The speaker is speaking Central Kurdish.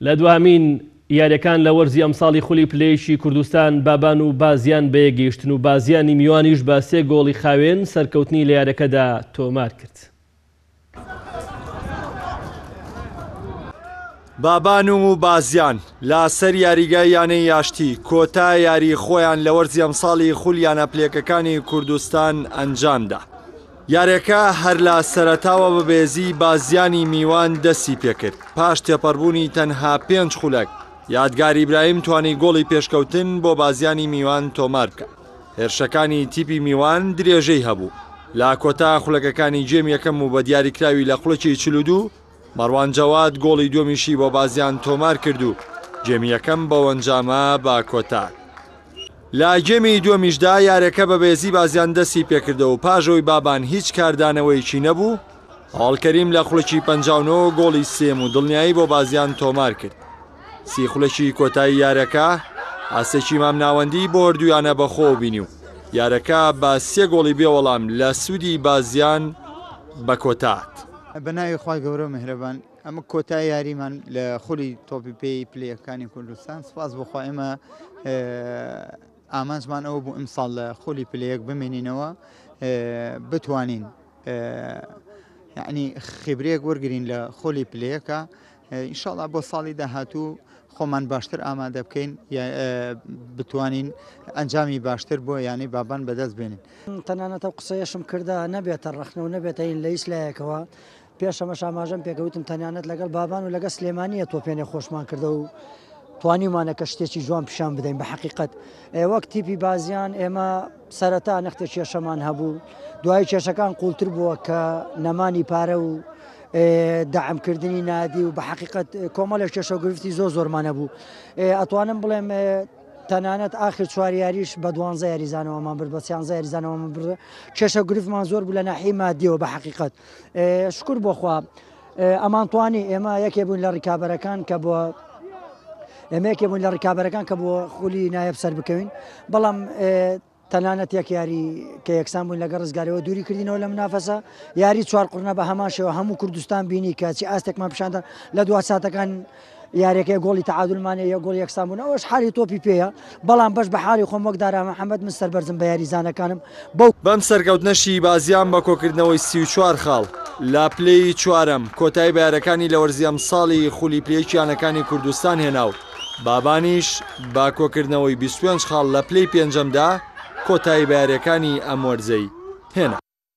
لە دوهەمین یاریەکان لە وەرزی ئەمساڵی خولی پلەیەکی کوردستان بابان و بازیان بە یەک گەیشتن و بازیانی میوانیش بە سێ گۆڵی خاوێن سەرکەوتنی لە یارەکەدا تۆمار کرد. بابان و بازیان لە سەر یاریگای یانەی یاشتی کۆتا یاری خۆیان لە وەرزی ئەمساڵی خول یانە پلێکەکانی کوردستان ئەنجامدا. یاریەکە هەر لە سەرەتاوە بە بێزی بازیانی میوان دەستی پێکرد، پاش تێپەڕبوونی تەنها پێنج خولەک، یادگار ئیبراهیم توانی گۆڵی پێشکەوتن بۆ بازیانی میوان تۆمار بکات. هێرشەکانی تیپی میوان درێژەی هەبوو، لە کۆتا خولەکەکانی گێمی یەکەم و بە دیاریکراوی لە خولەکی چل و دوو، مەڕوان جەواد گۆڵی دووەمیشی بۆ بازیان تۆمارکرد و گێمی یەکەم بەوەنجامە بە کۆتا. لە گێمی دووەمیشدا یارەکە بە بەێزی بازیان دەستی پێکردەوە و پاش ئەوەی بابان هیچ کاردانەوەیەکی نەبوو، هەواڵ کەریم لە خولەکی پەنجا و نۆ گۆڵی سێیەم و دڵنیایی بۆ بازیان تۆمارکرد. سی خولەکی کۆتایی یارەکە ئاستێکی مامناوەندی بۆ هەردوویانە بەخۆوە بینی و یارەکە بە سێ گۆڵی بێوەڵام لە سوودی بازیان بە کۆتاهات. بە ناوی خوای گەورە و میهرەبان ئەمە کۆتای یاریمان لە خولی تۆپی پێی پلەکانی کوردستان سپاس بۆ خوا ئێمە ئامانجمان ئەوە بوو ئیمساڵ لە خولی پلەیەک بمێنینەوە بتوانین یعنی خیبرەیەک وەرگین لە خۆلی پلەیەکە ئینشاڵا بۆ ساڵی داهاتوو خۆمان باشتر ئامادە بکەین بتوانین ئەنجامی باشتر بۆ یانەی بابان بەدەست بێنین تەنانەتە و قسەیەشم کردە نەبێتە ڕخنە و نەبێتە هین لە هیچ لایەکەوە پێشەمە شاماژەم پێکەوتم تەنانەت لەگەڵ بابان و لەگە سلێمانیە تۆپێنێ خۆشمان کردە و توانیمانە کە شتێکی جوان پیشان بدەین بە حقیقت وەک تیپی بازیان ئێمە سەرەتا نەختێ کێشەمان هەبوو دوای کێشەکان قوڵتر بووە کە نەمانی پارە و دەعمکردنی نادی و بە حقیقت کۆمەلە کێشە گرفتی زۆر زۆرمانە بوو ئەتوانم بڵێم تەنانەت آخر چواریاریش بە دوانزە یاریزانەوەمان برد بە سیانزە یاریزانەوەمان برد کێشە گرفتمان زۆر بوو لە ناحی مادیەوە بە حقیقت شکر بۆخوا ئەمان توانی ئێمە یەکێ بوون لە ڕیکابەرەکان کە بۆ ئێمە یەکێ بوون لە ڕیکابەرەکان کە بۆ خولی نایەب سەر بکەوین بەڵام تەنانەت یەک یاری کە یەکسان بوون لەگە ڕزگارەوە دووری کردینەوە لە منافەسە یاری چوار قڕنە بە هەماشەوە هەموو کوردستان بینی کەچی ئاستێکمان پیشاندان لە دو ساعتەکان یاریەکەی گۆڵی تەعادول مانێ یە گۆڵ یەکسان بوون ئەوەش حالی تۆپی پێیە بەڵام بەش بە حالی خۆم وەک دارا محەممەد من سەربەرزم بە یاریزانەکانم بەو بەم سەرکەوتنە شیبازیان بە کۆکردنەوەی سی و چوار خاڵ لە پلەی چوارەم کۆتایی بە یارەکانی لە وەرزی ئەمساڵی خولی پلەیەکی یانەکانی کوردستان هێنا و بابانیش بە کۆکردنەوەی بیست و پێنج خاڵ لە پلەی پێنجەمدا کۆتایی بە یاریەکانی ئەم وەرزەی هێنا.